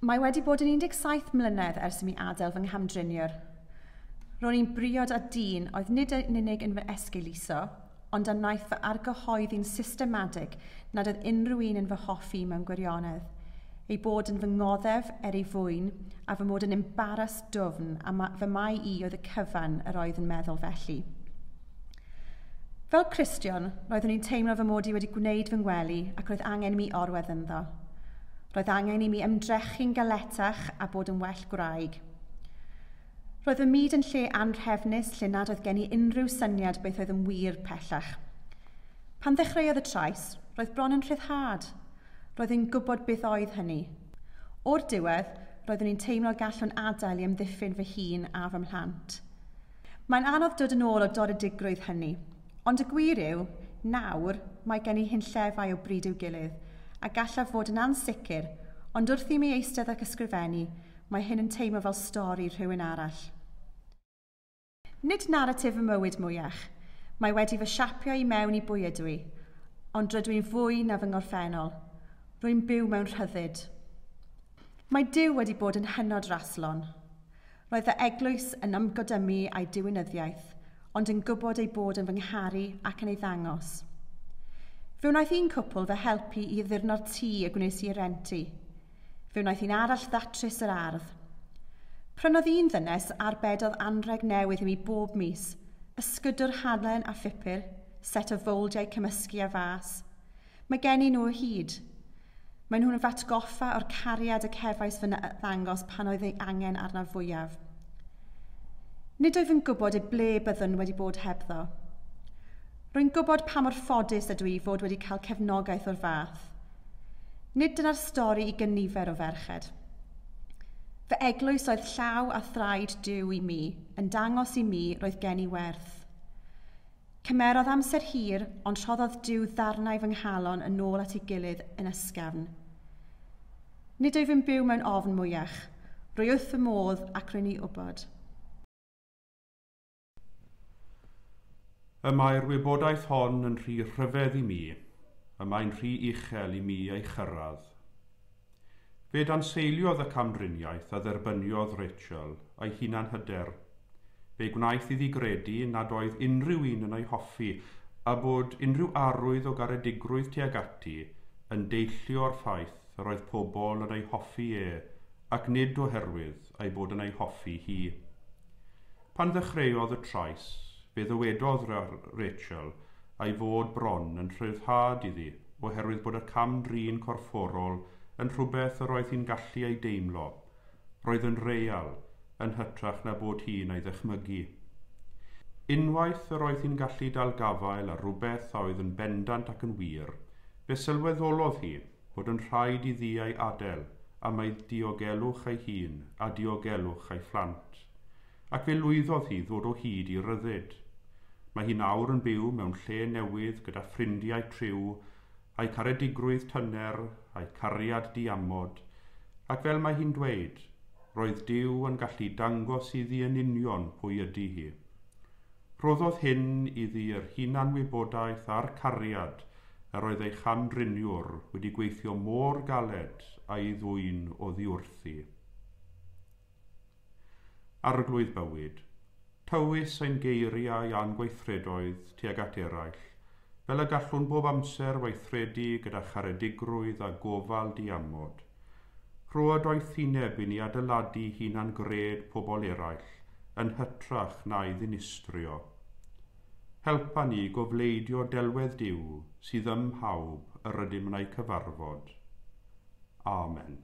Mae wedi bod yn 17 mlynedd ers i mi adael fy nghamdriniwr. Ro'n i'n briod â dyn oedd nid yn unig yn fy esgeuluso, ond a wnaeth fy argyhoeddi'n systematig nad oedd unrhyw un yn fy hoffi mewn gwirionedd, ei bod yn fy ngoddef er ei fwyn, a fy mod yn embaras dwfn a ma fy mai i oedd y cyfan yr oedd yn meddwl felly. Fel Cristion, roeddwn i'n teimlo fy mod i wedi gwneud fy ngwely ac roedd angen i mi orwedd ynddo. Roedd angen i mi ymdrechu'n galetach a bod yn well gwraig. Roedd fy myd yn lle anrhefnus lle nad oedd gen i unrhyw syniad beth oedd yn wir pellach. Pan ddechreuodd y trais, roedd bron yn rhyddhad. Roedd yn gwybod beth oedd hynny. O'r diwedd, roeddwn i'n teimlo gallwn adael i amddiffyn fy hun a fy mhlant. Mae'n anodd dod yn ôl o doredigrwydd hynny. Ond y gwir yw, nawr, mae gen i hunllefau o bryd i'w gilydd, a gallaf fod yn ansicr, ond wrth i mi eistedd ac ysgrifennu, mae hyn yn teimlo fel stori rhywun arall. Nid naratif fy mywyd mwyach. Mae wedi fy siapio i mewn i bwy ydw i, ond rydw i'n fwy na fy ngorffennol. Rwy'n byw mewn rhyddid. Mae Duw wedi bod yn hynod raslon. Roedd fy eglwys yn ymgodymu â'i diwinyddiaeth, ond yn gwybod ei bod yn fy ngharu ac yn ei ddangos. Fe wnaeth un cwpl fy helpu i addurno'r tŷ y gwnes i ei rent i. Fe wnaeth un arall ddatrys yr ardd. Prynodd un ddynes arbedodd anrheg newydd i mi bob mis, ysgydwr halen a phupur, set o fowldiau cymysgu a fas. Mae gennyn nhw o hyd. Maen nhw'n fy atgoffa o'r cariad y cefais fy ddangos pan oedd ei angen arnaf fwyaf. Nid oedd yn gwybod i ble byddwn wedi bod hebddo. Rwy'n gwybod pa mor ffodus ydw i fod wedi cael cefnogaeth o'r fath. Nid dyna'r stori i gynifer o ferched. Fy eglwys oedd llaw a thraed Duw i mi, yn dangos i mi roedd gen i werth. Cymerodd amser hir, ond rhoddodd Duw ddarnau fy nghalon yn ôl at ei gilydd yn ysgafn. Nid wyf yn byw mewn ofn mwyach. Rwy wrth fy modd ac rwy'n ei wybod. Y mae'r wybodaeth hon yn rhy rhyfedd i mi, y mae'n rhy uchel i mi ei chyrraedd. Fe danseiliodd y camdriniaeth a dderbyniodd Rachel ei hunanhyder. Fe gwnaeth iddi gredu nad oedd unrhyw un yn ei hoffi a bod unrhyw arwydd o garedigrwydd tuag ati yn deillio o'r ffaith yr oedd pobl yn ei hoffi e ac nid oherwydd ei bod yn ei hoffi hi. Pan ddechreuodd y trais, fe ddywedodd Rachel ei fod bron yn rhyddhad iddi oherwydd bod y cam-drin corfforol yn rhywbeth yr oedd hi'n gallu ei deimlo, roedd yn real, yn hytrach na bod hi'n ei ddychmygu. Unwaith yr oedd hi'n gallu dal gafael ar rywbeth a oedd yn bendant ac yn wir, fe sylweddolodd hi, fod yn rhaid i ddiau adael am ei diogelwch ei hun a diogelwch ei phlant, ac fe lwyddodd hi ddod o hyd i ryddid. Mae hi nawr yn byw mewn lle newydd gyda ffrindiau criw, a'i caredigrwydd tyner, a'i cariad diamod, ac fel mae hi'n dweud, roedd Duw yn gallu dangos iddi yn union pwy ydy hi. Rhoddodd hyn iddi yr hunanwybodaeth a'r cariad Yr oedd ei cham-driniwr wedi gweithio mor galed a'i ddwyn oddiwrthi. Arglwydd bywyd. Tywys ein geiriau a'n gweithredoedd tuag at eraill, fel y gallwn bob amser weithredu gyda charedigrwydd a gofal diamod. Rhoa doethineb i ni adeiladu hunan-gred pobl eraill yn hytrach na'i ddinistrio. Helpa ni i gofleidio delwedd Duw sydd ym mhawb yr ydym yn eu cyfarfod. Amen.